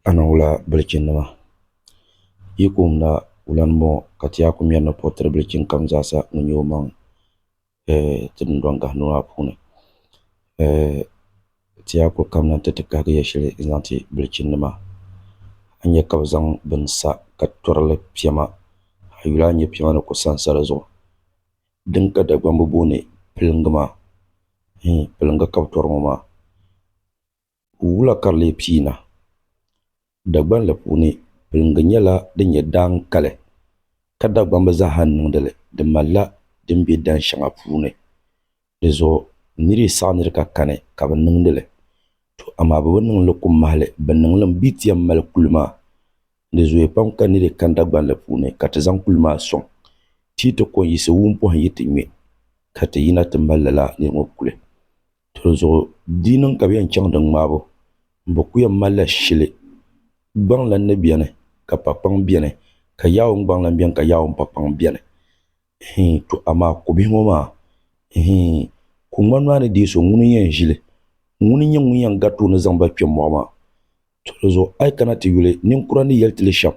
a niŋ wula bilichinnima? Yi ku wumda wula ni bɔŋɔ ka ti yaa ku mɛri ni puɣi tiri bilichin kam zaa sa ŋun nyɛ omaŋ ti dundɔŋ gahindoo maa puuni ti yaa kuli kamina nti ti kahigi ya shɛli n zaŋ ti bilichinnima a ni nya ka bɛ zaŋ bini sa ka tɔri li piɛma a yuli a ni nya piɛma ni ku sansa di zuɣu. din ka Dagbamba booni piliŋga maa, hii, piliŋga ka bɛ tɔri ŋɔ maa, wula ka di lee pii na? Dagbanli puuni piliŋga nyɛla din nyɛ daan kali, ka Dagbamba zaaha niŋdi li di malila din be dan shɛŋa puuni. Di zuɣu nir yi saɣi nir ka kani ka bɛ niŋdi li, tɔ amaa bɛ bi niŋ li ku mahili bɛ niŋlim bee ti yɛn mali kuli maa. Di zooya pam ka niri kani Dagbanli puuni ka ti zaŋ kuli maa sɔŋ ti yi ti kɔŋ yiɣisi wum pɔhim yi ti ŋme ka ti yina ti mali lala niri ŋɔ kuli. Dinzuɣu di niŋ ka bɛ yɛn chaŋ di ŋmaabu m-bɔ ku yɛn malila shili, Gbaŋ lan ni beni ka pakpaŋ beni ka Yaawun gbaŋ lan beni ka Yaawun pakpaŋ beni. Ihiin to amaa kobihi ŋɔ maa, ihiin kuŋmani maa ni deei so ŋuni n-yɛn ʒi li? Ŋuni n-nyɛ ŋun yɛn gariti o ni zaŋ ba kpe mɔɣu maa? To di zuɣu a yi kana ti yuli ninkura ni yɛli ti li shɛm,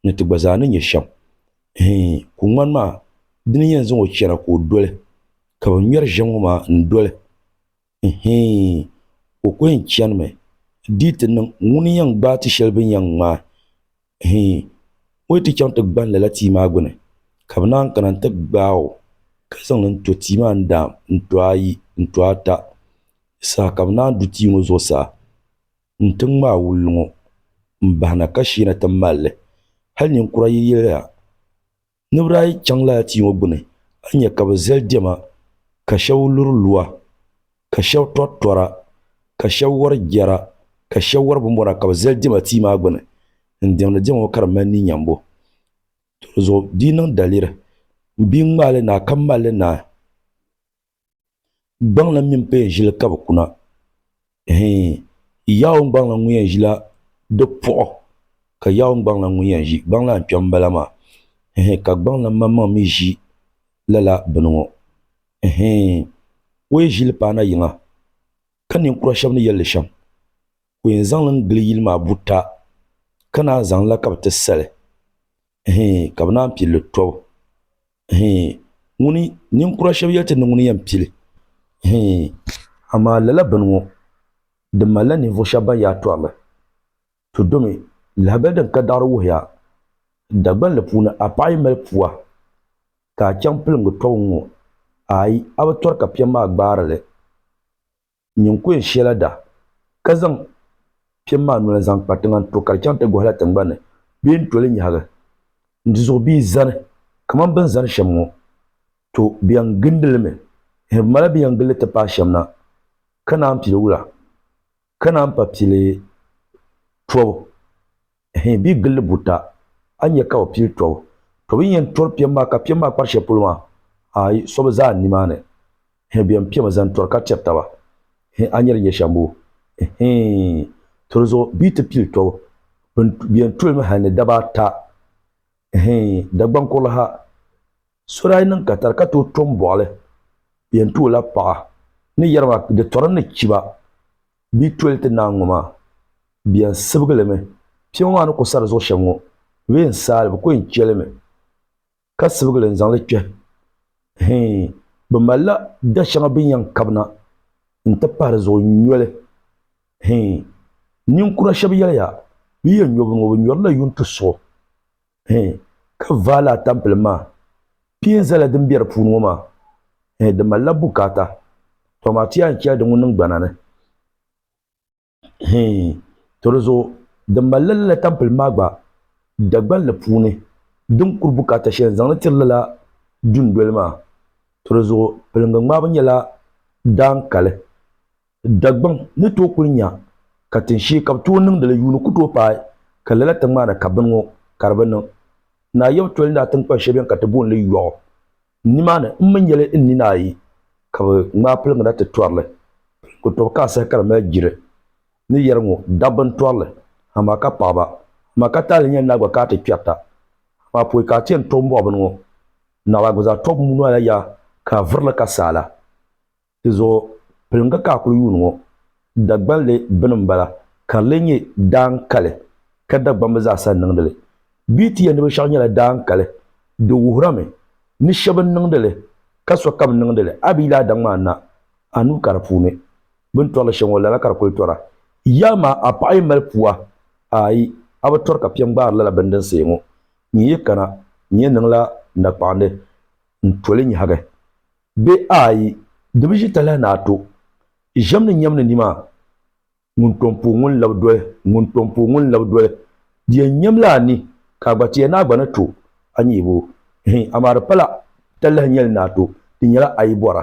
ni ti gba zaa ni nyɛ shɛm. Hii, ku ŋmani maa di ni yɛn zaŋ o chɛna ka o doli, ka bɛ ŋmɛri ʒiɛm ŋɔ maa n-doli. Hii, o ku yɛn chanimi dii ti niŋ ŋuni yɛn gbaai ti shɛli bɛ ni yɛn ŋmaai. Hii, o yi ti chaŋ ti gbani lala tia maa gbini, ka bɛ naan kana nti gbaai o, ka zaŋ li n-to tia maa n-daam n-to ayi n-to ata saha ka bɛ naan du tia ŋɔ zuɣusaa. N tiŋ maa wul ŋɔ, m bahina ka sheena ti mal li. Hal ninkura yi yɛliya, Ni bi daa yi chaŋ lala tia ŋɔ gbini, a ni nya ka bɛ zali diɛma, ka shɛb luri lua, ka shɛb tɔri tɔra, ka shɛb wari jɛra, ka shɛb wari bimbɔna ka bɛ zali diɛma tia maa gbini n-diɛmdi diɛma ŋɔ ka di mali ni nyambu. Tɔli zuɣu di yi niŋ daliri, m bia ŋmaai li naai ka mal li naai. Gbaŋla mini paya ʒili ka bɛ kuna. Hii, Yawɛ gbaŋla ŋun yɛn ʒila di puɣu, ka Yawɛ gbaŋla ŋun yɛn ʒi gbaŋ lan kpɛm bala maa. Hii, ka gbaŋla maŋmaŋ mi ʒi lala bini ŋɔ. Hii, o yi ʒi li paana yiŋa, ka ninkura shɛb ni yɛl li shɛm, ka o yɛn zaŋ li n-gili yili maa buta, ka naan zaŋ li la ka bɛ ti sa li. Hii, ka bɛ naan pili li tɔbu. Ŋuni ninkura shɛba yɛli ti ni ŋuni yɛn pili amaa lala bini ŋɔ di malila ninvuɣ shɛba ban yaa tɔrili ti domi lahibali din ka daɣiri wuhiya Dagbani li puuni a paɣi yi mali pua ka a chaŋ pilingi tɔbu ŋɔ ayi a bi tɔri ka piɛm maa gbaari li. Nyin ku yɛn shiɛla daa, ka zaŋ piɛm maa noli n-zaŋ kpa tiŋa n-to ka di chaŋ ti gɔhila tiŋgbani ni bee n-to li nyahigi n-tizuɣu bee zani kaman bɛ ni zani shɛm ŋɔ. To bɛ yɛn gindi li mi, hɛ bɛ mala bɛ ni yɛn gindi li ti paai shɛm na, ka naan pili wula, ka naan pa pili tɔbu. Hii bɛ gilli buta, a nya ka o pili tɔbu. Tɔbu n-yɛn tɔri piɛm maa, ka piɛm maa kpari shɛli polo maa, aai, so bi zaa nimaani. Hii bɛn piɛmi zani tɔri ka tɛri taba. Hii a nya di nyɛ shɛmbu. Hii, to di zuɣu bɛ yi ti pili tɔbu, bɛ yɛn toli mi hal ni daba ata. Hii, Dagbaŋ kurili ha. So daa yi niŋ katari ka tooi to m-bɔɣili bɛ yɛn tu o la paɣa ni yɛri ma di tɔri ni chiba bia toli ti naan ŋɔ maa bɛ yɛn sibigi li mi. Piɛma maa ni ku sari zuɣu shɛm ŋɔ bɛ bi yɛn saai li bɛ ku yɛn che li mi ka sibigi li n-zaŋ li kpɛhi. Hii, bɛ malila da shɛŋa bɛ ni yɛn kabi na n-ti pahi di zuɣu nyoli. Hii, ninkura shɛba yɛliya bɛ yi yɛn nyo bini ŋɔ bɛ nyɔrila yuŋ ti suɣi. ka vaal atampili maa kpee n-zala din be di puuni ŋɔ maa di malila bukaata tɔ amaa ti yɛn chɛli di ŋun niŋ gbana ni tɔ di zuɣu di malila lala atampili maa gba Dagban li puuni din kuri bukaata shɛli n-zaŋ li tiri lala dundoli maa tɔ di zuɣu piliŋga ŋmaabo nyɛla daan kali Dagbaŋ ni tooi kuli nya ka tinshee ka bɛ tooi niŋdi li yuuni ku tooi paai ka lala ti ŋmaana ka bini ŋɔ ka di bi niŋ. Naa Yawɛ toli naa tiŋkpan shɛli beni ka ti booni li Yɔɣu. Nimaani m mi nyɛli n nina ayi ka bɛ ŋmaai piliŋda ti tɔri li. Piliŋgu tɔbu ka asahi ka di mali jiri ni yɛri ŋɔ, Dabba n-tɔri li, amaa ka paɣiba, amaa ka taali nyɛli naa gba ka a ti kpɛrita, amaa pɔi ka a ti yɛn tɔbi m-bɔɣi bini ŋɔ. Naɣila gba zaa tɔbu noli la yaa ka a viri li ka saala. Di zuɣu piliŋga ka a kuli yuuni ŋɔ. Dagbanli bini m-bala ka di lee nyɛ daan kali ka Dagbamb zaasa niŋdi li. Bee ti yɛn ni binshɛɣu nyɛla daan kali, di wuhirimi ni shɛb n-niŋdi li ka sokam niŋdi li a bi yil a daŋ maa na a nuu ka di puuni. Bɛ ni tɔri li shɛm ŋɔ, lala ka di kuli tɔra. Yi amaa a paɣ yɛn mali pua, aai, a bi tɔri ka piɛ n-gbaari lala bini din sayi ŋɔ. N yi yi kana, n yɛn niŋla nakpaɣindi n-to li nyɛhigi. Bɛ ayi di bi ʒi talahi ni a to ʒiɛm ni nyɛm ni nima ŋun tom pooi ŋun labi doli ŋun tom pooi ŋun labi doli di yɛn nyɛm la a ni ka a gba ti ya ni a gba ni to a nyɛhibo hiin amaa di pala talahi nyɛli ni a to di nyɛla a yi bɔra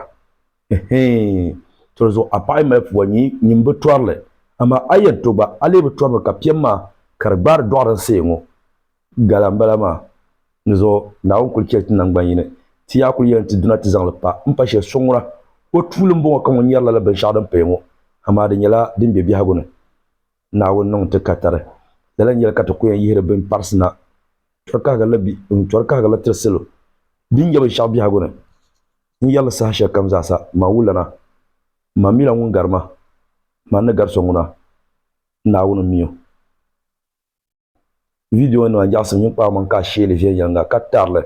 hiin toli zuɣu a paɣa yi mali pua nyin nyin bi tɔrili amaa a yɛn to gba a lee bi tɔrimi ka piɛm maa ka di gbaari dɔɣiri n-seei ŋɔ Gala n bala maa. Dinzuɣu Naawuni kuli chɛ ti naŋgban yini, ti yaa kuli yɛn ti duna ti zaŋ li pa. M pa shɛli, so ŋuna, o tuuli m-bɔŋɔ ka ŋun nyari lala binshɛɣu din paya ŋɔ, amaa di nyɛla din be biɛhigu ni. Naawuni niŋ ti ka tari. Lala n-yɛli ka ti ku yɛn yihiri bini parisi na, tɔri kahigirila bi ni tɔri kahigirili tiri salo din nya binshɛɣu biɛhigu ni. N yɛri li saha shɛlikam zaa sa, man wulana, man mi la ŋun gari ma, man ni gari so ŋuna, Naawuni m-mi o. viidionima n-nyaɣisi ninkpara maŋa ka a sheeli viɛnyɛliŋga ka tarili.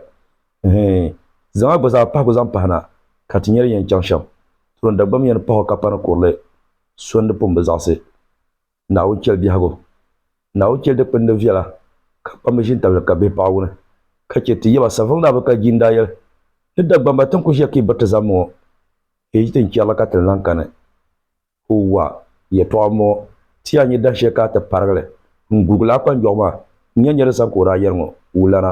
Hii, zaŋ a gba zaa pahigu zaŋ pahi na ka ti nya di yɛn chaŋ shɛm. Tuun Dagbamba yɛn pahi o ka pa ni kurili sondi pun bi zaɣisi Naawuni chɛli biɛhigu. Naawuni chɛli dikpini ni viɛla ka kpamba ʒintabilili ka bihi paɣi wuni ka chɛ ti yɛba Saveluŋ Naa Bukar Jii n-daa yɛli ni Dagbamba ti ni ku ʒiya ka yi biriti zaŋmi ŋɔ, yi yi ti ni chɛrila ka ti ni lan kani. Huwa, yɛtɔɣa ŋɔ, ti ya nyɛ dahin shɛli ka a ti parigi li, n gurigila a kpanjɔɣu maa, n nya nirizaŋ ka o daa yɛri ŋɔ, wulana.